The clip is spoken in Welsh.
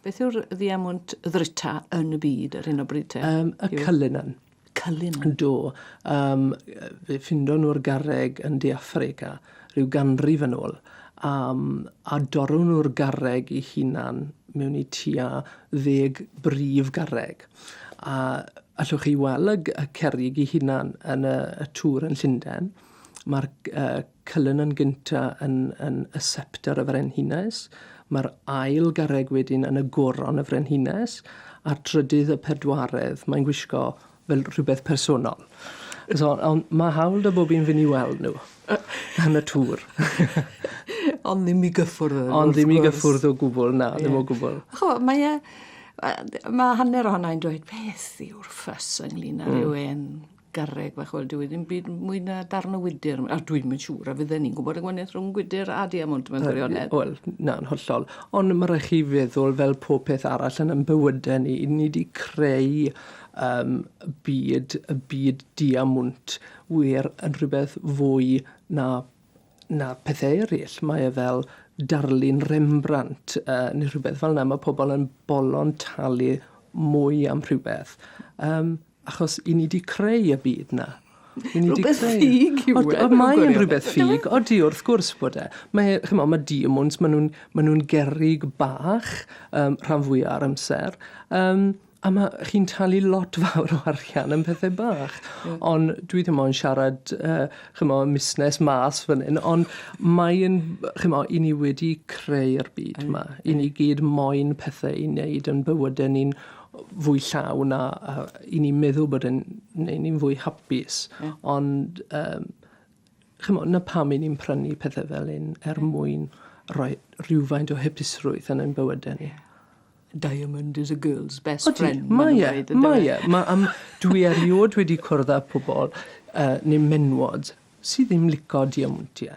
Beth yw'r ddiemwnt ddrita yn y byd ar hyn o bryd te? Um, y Yw... Cullinan. Cullinan? Do. Um, fe ffindo nhw'r garreg yn De Affrica rhyw ganrif yn ôl. Um, a dorw nhw'r garreg i hunan mewn i tua ddeg brif garreg. A allwch chi weld y, y cerig i hunan yn y, y tŵr yn Llundain. Mae'r uh, Cullinan gynta yn yn y septer y frenhines, mae'r ail garreg wedyn yn y goron y frenhines, a'r trydydd y pedwaredd, mae'n gwisgo fel rhywbeth personol. So, ond mae hawl da bob un fynd i weld nhw yn y tŵr. Ond ddim i gyffwrdd â nhw, Ond ddim i gyffwrdd o gwbl, na, ddim o gwbl. Cho, mae e, mae hanner ohona i'n dweud, beth yw'r ffys ynglyn â rhywun garreg fach, wel, dyw e ddim byd mwy na darn o wydr. A dwi'n mynd siŵr a fydden ni'n gwybod y gwaniaeth rhwng gwydr a diamwnt mewn gwirionedd. Wel, na'n hollol. Ond mae rhaid chi feddwl fel pob peth arall yn yn bywydau ni. Ni wedi creu um, byd, y byd diamwnt wir yn rhywbeth fwy na, na pethau eraill. Mae e fel darlun Rembrandt uh, neu rhywbeth fel yna. Mae pobl yn bolon talu mwy am rhywbeth. Um, Achos i ni 'di creu y byd 'na. I ni 'di creu... Rhywbeth ffug yw e. Ond mae e'n rhywbeth ffug. Odi, wrth gwrs bod e. Mae, ch'mo', ma' diemwns, ma' nhw'n, ma' nhw'n gerrig bach, um, rhan fwya o'r amser, um, a ma' chi'n talu lot fawr o arian am pethe bach. Yeah. Ond dwi ddim ond siarad, uh, ch'mo', musnes mas fan hyn, ond mae'n, ch'mo', i ni wedi creu'r byd yma. I ni gyd moyn pethe i wneud yn bywydau ni'n fwy llawn a, a i ni'n meddwl bod yn neu ni'n fwy hapus. Yeah. Ond, um, chymod, na pam i ni'n prynu pethau fel un er mwyn rhoi rhywfaint o hypusrwydd yn ein bywydau ni. Diamond is a girl's best Odi, friend. Mae e, mae e. Mae am, dwi erioed wedi cwrdd â pobl uh, neu menwod sydd ddim lico diamantiau.